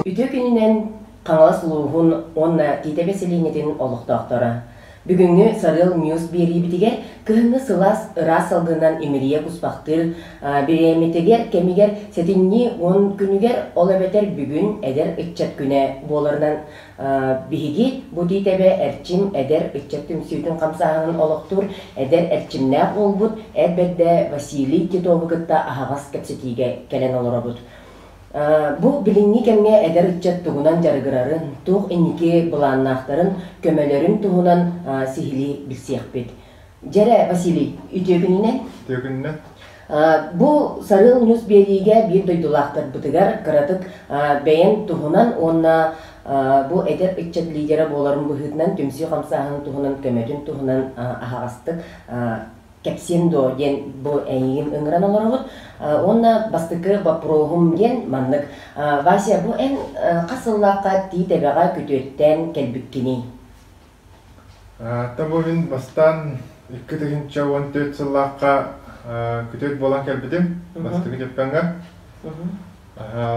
Үтүө күнүнэн Хаҥалас улууһун уонна Тиитэпэ сэлиэнньэтин олохтоохторо! Бүгүҥҥү Сарыал Ньюс биэриибитигэр кыһыҥҥы сылаас ыраас салгынынан имирийэ куспахтыыр бириэмэтигэр кэмигэр сэтинньи уон күнүгэр ол эбэтэр бүгүн эдэр ыччат күнэ буоларынан Биһиги бу тиитэбэ Эрчим эдэр ыччат түмсүүтүн хамсааһынын олохтуур эдэр эрчимнээх уолбут, эр бэрдэ Василий Титову кытта аһаҕас кэпсэтиигэ кэлэн олоробут. Бу билиҥҥи кэмҥэ эдэр ыччат тугунан дьарыгырарын, туох инники былааннаахтарын, көмөлөрүн туһунан сиһилии билсиэхпит. Дьэрэ, Василий, үтүөкүнүнэ. Үтүөкүнүнэ. Бу Сарыал Ньус биэриигэ биир дойдулаахтарбытыгар кыратык бэйэн туһунан уонна бу эдэр ыччат лидера буоларын быһыытынан түмсүү хамсааһынын туһунан көмөтүн туһунан аһаҕастык кэпсиэм дуо диэн бу эйигин ыҥыран олоробут уонна бастакы боппуруоһум диэн маннык Вася бу эн хас сыллаахха тиит эбэҕэ күтүөттээн кэлбиккиний Аата бу мин бастаан икки тыһыынча уон төрүт сыллаахха күтүөт буолан кэлбитим бастакы дьапкаҥҥа.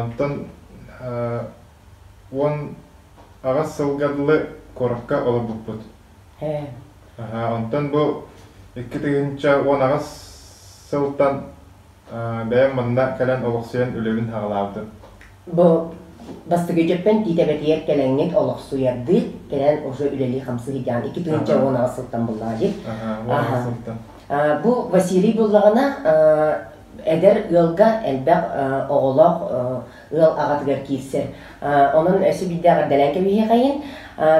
Онтон уон аҕыс сылга дылы куоракка олорбуппут. Онтон бу икки тыһыынча уон аҕыс сылтан бэйэм манна кэлэн олохсуйан үлэбин саҕалаабытым. Бу бастакы дьөппөн Тиитэбэтигэр кэлэҥҥит олохсуйардыы, кэлэн уже үлэлии-хамсыы сыдьаан икки тыынча уон аҕыс сылтан буллаҕа дии. Аха. Бу Василий буллаҕына эдэр ыалга элбэх оҕолоох ыал аҕатыгар киирсэр. Онон өсө биирдээҕэр дэлэн кэбиһиэхэйин.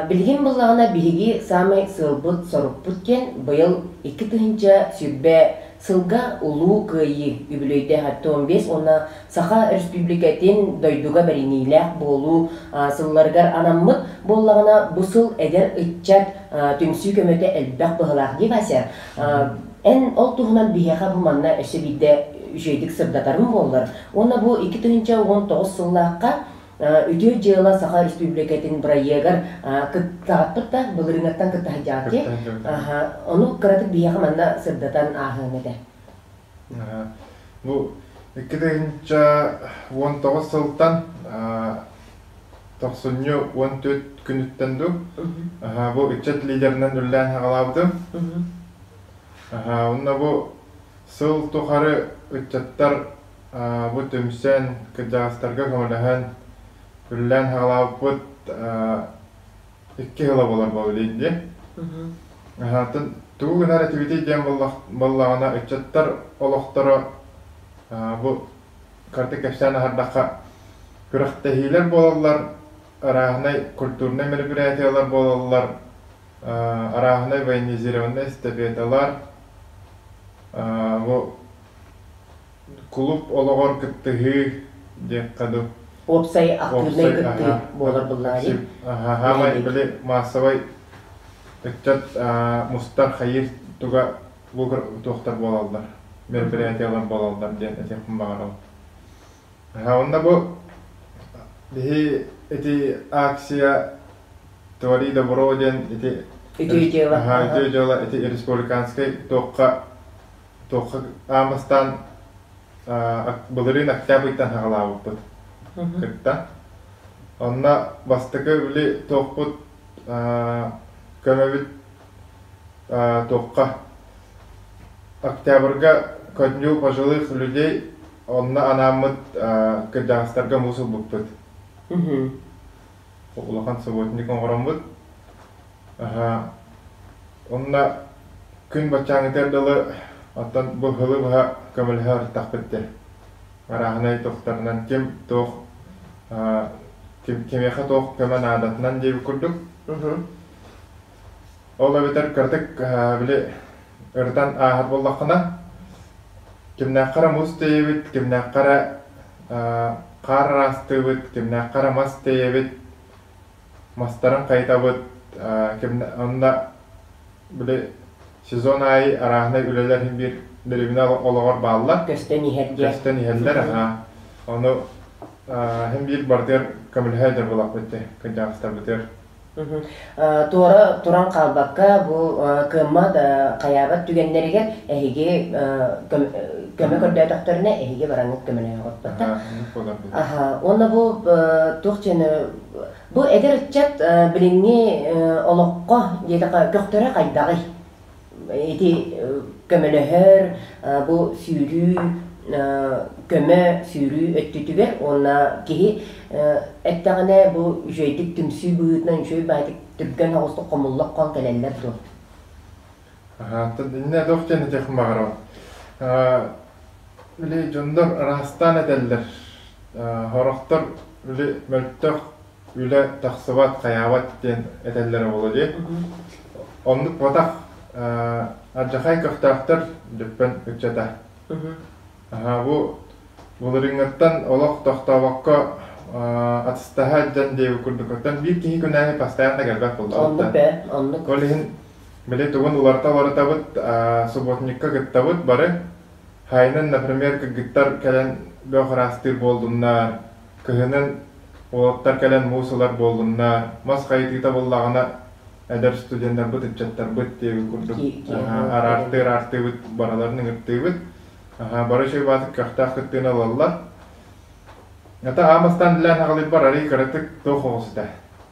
Билигин буллаҕына биһиги саамай сыалбыт, сорукпут диэн быйыл икки тыһыынча сүбэ Сылга Улуу Кыайыы үбүлүөйдээх Артем биэс уонна Саха Өрөспүүбүлүкэтин дойдуга бэриниилээх буолуу сылларыгар анаммыт буоллаҕына, бу сыл эдэр ыччат түмсүү көмөтө элбэх быһыылаах дии, Вася. Эн ол туһунан биһиэхэ бу манна өссө биирдэ үчүгэйдик сырдатарым буоллар уонна бу икки тыһыынча уон тоҕус сыллаахха Үтүө дьыала Саха Республикатын бырайыагар кыттаҕытпыт да, былырыыҥҥаттан кытта сылдьаҕытый? Ону кыратык биһиэхэ манна сырдатан ааһыаҥ этэ. Бу икки тыһыынча уон тоҕус сылтан тохсунньу уон түөрт күнүттэн дуу бу ыччат лидерынан үлэлээн саҕалаабытым. Уонна бу сыл тухары ыччаттар Бу түмсэн, кырдьаҕастарга көмөлөһөн, күллээн саҕалаабыппыт икки сыла буолар буоллулар дии. Атын тугу гынар этибитий диэн буоллаҕына, ыччаттар олохторо бу кыратык кэпсээн аһардахха, күрэхтэһиилэр буолаллар, арааһынай культурнай мероприятиелар буолаллар, арааһынай военизированнай эстафеталар, бу Кулууп олоҕор кыттыһыы диэххэ дуу. Уопсай актыыбынай кыттыы буолар быллаарыы. Хаһаамай били маассабай ыччат мустар хайыыр туга лугар утуохтар буолаллар, мероприятиялар буолаллар диэн этиэхпин баҕарабын. Онно бу биһи ити акция Твори добро диэн ити ити дьыала ити республиканскай туохха Хаамыстаан былырыын октябрьтан саҕалаабыппыт кыттан. Онно бастакы били туохпут көмөбүт туохха октябрьга көнньүү пожилых людей онно анааммыт кырдьаҕастарга муус ылбыппыт улахан субботник оҥороммут. Уонна күн баччааҥҥытыгар дылы, оттон бу сылы быһа көмөлөһө сырыттахпыт дии. Арааһынай туохтарынан ким туох кимиэхэ туох көмө наадатынан диэбит курдук. Ол эбэтэр кыратык били ырытан ааһар буоллаххына, кимнээххэ эрэ муус тиэйэбит, кимнээххэ эрэ хаар араастыыбыт, кимнээххэ эрэ мас тиэйэбит, мастарын хайытабыт, онно били сезон аайы арааһынай үлэлэр иһин биир дэриэбинэ олоҕор бааллар. Көстөн иһэр диэн. Көстөн иһэллэр, аhaa. Ону иһин биир барытыгар көмөлөһө өйдөр буоллахпыт ити кырдьаҕастарбытыгар. Туора туран хаалбакка бу кыаммат хайаабат түгэннэригэр эһиги көмө көрдөөтөхтөрүнэ эһиги бараҥҥыт көмөлөһө охпоттор. Аха, уонна бу туох диэни бу эдэр ыччат билиҥҥи олоххо диэки көхтөрө хайдаҕый? ити көмөлөһөр бу сүүрүү көмө сүүрүү өттүтүгэр уонна киһи эттэҕинэ бу үчүгэйдик түмсүү быһыытынан үчүгэй баҕайытык түргэн оҕустук хомуллан хон кэлэллэр дуо Биллэ да ох диэн этиэх баҕарабын били дьоннор ыраастаан этэллэр сорохтор били мөлтөх үлэ тахсыбат, хайаабат диэн этэллэрэ буолуо дии. Оннук батах ардьахай көхтөөхтөр Дүппэн ыччата. Аһаа, бу былырыыҥҥыттан олох тохтообокко атыстаһа дьон диэбит курдуктан биир киһи күнээһи бастаан да келбет булбутта. Оннук ээ, оннук. Ол иһин били тугун уларыта уларытабыт, субботникка кыттабыт бары. Хайынан, например, кыргыттар кэлэн бөх ыраастыыр буолдуннар, Кыһынын уолаттар кэлэн муус ылар буоллунна, мас хайытыыта буллаҕына, эдэр студеннарбыт, ыччаттарбыт диэбит курдук араартыы-араартыыбыт, бараларын ыҥыртыыбыт. Бары чыыбаатык көхтөөх кыттыыны ылаллар. Ата аам астаан илээн хаҕылыйбар арыый кыратык туох оҕус этэ.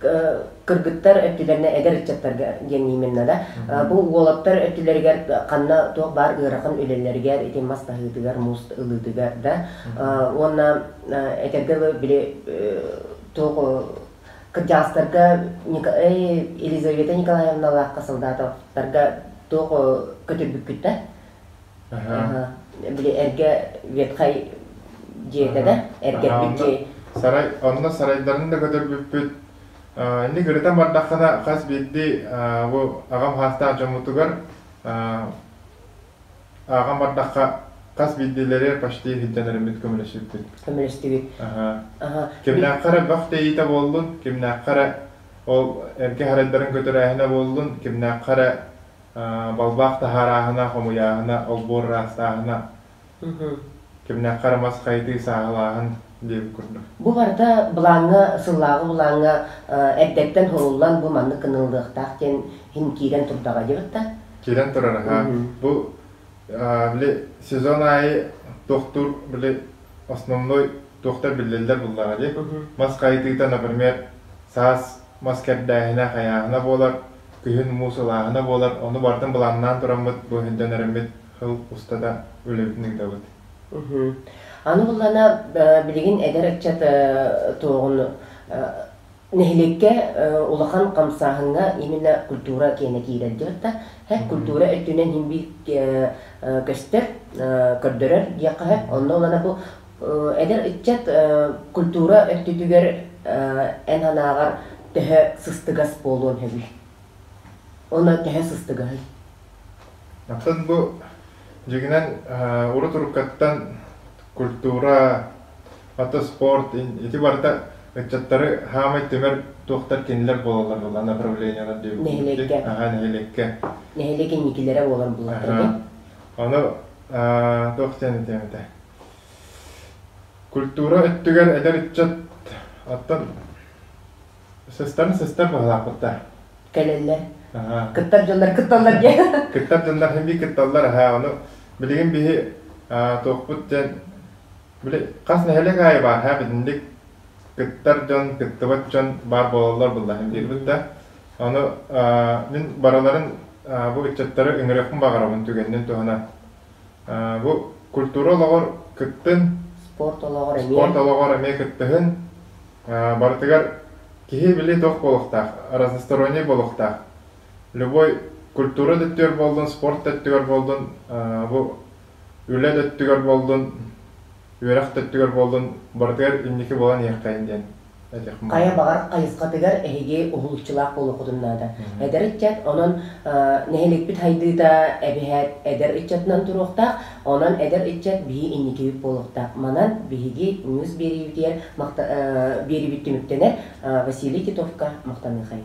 кыргыттар өттүлэринэ эдэр ыччаттарга диэн именно да бу уолаттар өттүлэригэр ханна туох баар ыарахан үлэлэригэр ити мас таһыытыгар муст ылыытыгар да уонна этэргэ дылы били туох кырдьаҕастарга Елизавета Николаевналаахха солдатовтарга туох көтүрбүккүт да били эргэ ветхай дьиэтэ да эргэрбит дьиэ сарай онно сарайдарын да көтөрбүппүт инник ырытан бардаххына хас биирдии бу аҕам саастаах дьоммутугар ааҕан бардахха хас биирдиилэри почти иһирдьэн эриммит көмөлөстүбүт көмөлөстүбүт кимнээххэ эрэ бөх тэйиитэ буоллун кимнээххэ эрэ ол эргэ сарайдарын көтөрөөһүнэ буоллун кимнээххэ эрэ Балбаах таһаарааһына, хомуйааһына, олбуор ыраастааһына, кимнээххэ эрэ мас хайытыы, сааһылааһын диэн курдук. Бу барыта былааҥҥа, сыллааҕы былааҥҥа эрдэттэн суруллан бу маннык гыныллыахтаах диэн иһин киирэн турдаҕа диэбит да. Киирэн турар, аһаа. Бу били сезон аайы туохтуур били основной туохтар биллэллэр буллаҕа дии. Мас хайытыыта, например, саас мас кэрдээһинэ, хайааһына буолар, күһүн муус ылааһына буолар, ону бардын былааннаан тураммыт, бу өһүрдэнэриммит сыл устата үлэбитин ыытабыт. Аны буллана билигин эдэр ыччат туоҕун нэһилиэккэ улахан хамсааһыҥҥа именно культура киэнэ киирэр диэх да, культура өттүнэн иһин биир көстөр, көрдөрөр диэххэ, онно улана бу Эдэр ыччат культура өттүтүгэр эн санааҕар төһө сыстыгас буолуон сөбүй? Онон төһө сыстыгаһый? Оттон бу дьиҥинэн урут-уруккаттан культура, ата спорт, ити барыта ыччаттары саамай түмэр туохтар кинилэр буолаллар буолла направлениелар диэбиттик аhaa нэһилиэккэ нэһилиэк инникилэрэ буолан буллахтар дии ону туох диэн этиэм этэ Культура өттүгэр эдэр ыччат оттон сыстарын сыстан быһалаахпыт да. Кэлэллэр. Кыттар дьоннор кытталлар диэн. Кыттар дьоннор хэмии кытталлар аһаа ону билигин биһи туохпут дьэн били хас нэһилик аайы баар һаа битинник кыттар дьон кыттыбат дьон баар буолаллар буллаһын диирбит да ону мин барыларын бу ыччаттары ыҥырыахпын баҕарабын түгэннин туһана Бу культура олоҕор кыттын, спорт олоҕор эмиэ спорт олоҕор эмиэ кыттыһын. Барытыгар киһи били туох буолуохтаах, разносторонний буолуохтаах. Любой культура да өттүгэр буоллун, спорт да өттүгэр буоллун, бу үлэ да өттүгэр буоллун, үөрэх да өттүгэр буоллун, барытыгар инники буолан иһиэхтэйин диэн этиэх муҥура. Хайа баҕар хайысхатыгар эһиги уһулуччулаах буолуоххутун наада. Эдэр ыччат, онон нэһилиэкпит хайдыыта эбэһээт эдэр ыччатынан туруохтаах, онон эдэр ыччат биһи инникибит буолуохтаах. Манан биһиги муус биэриибитигэр биэриибит түмүктэнэр, Василий Титовка махтаныахайым.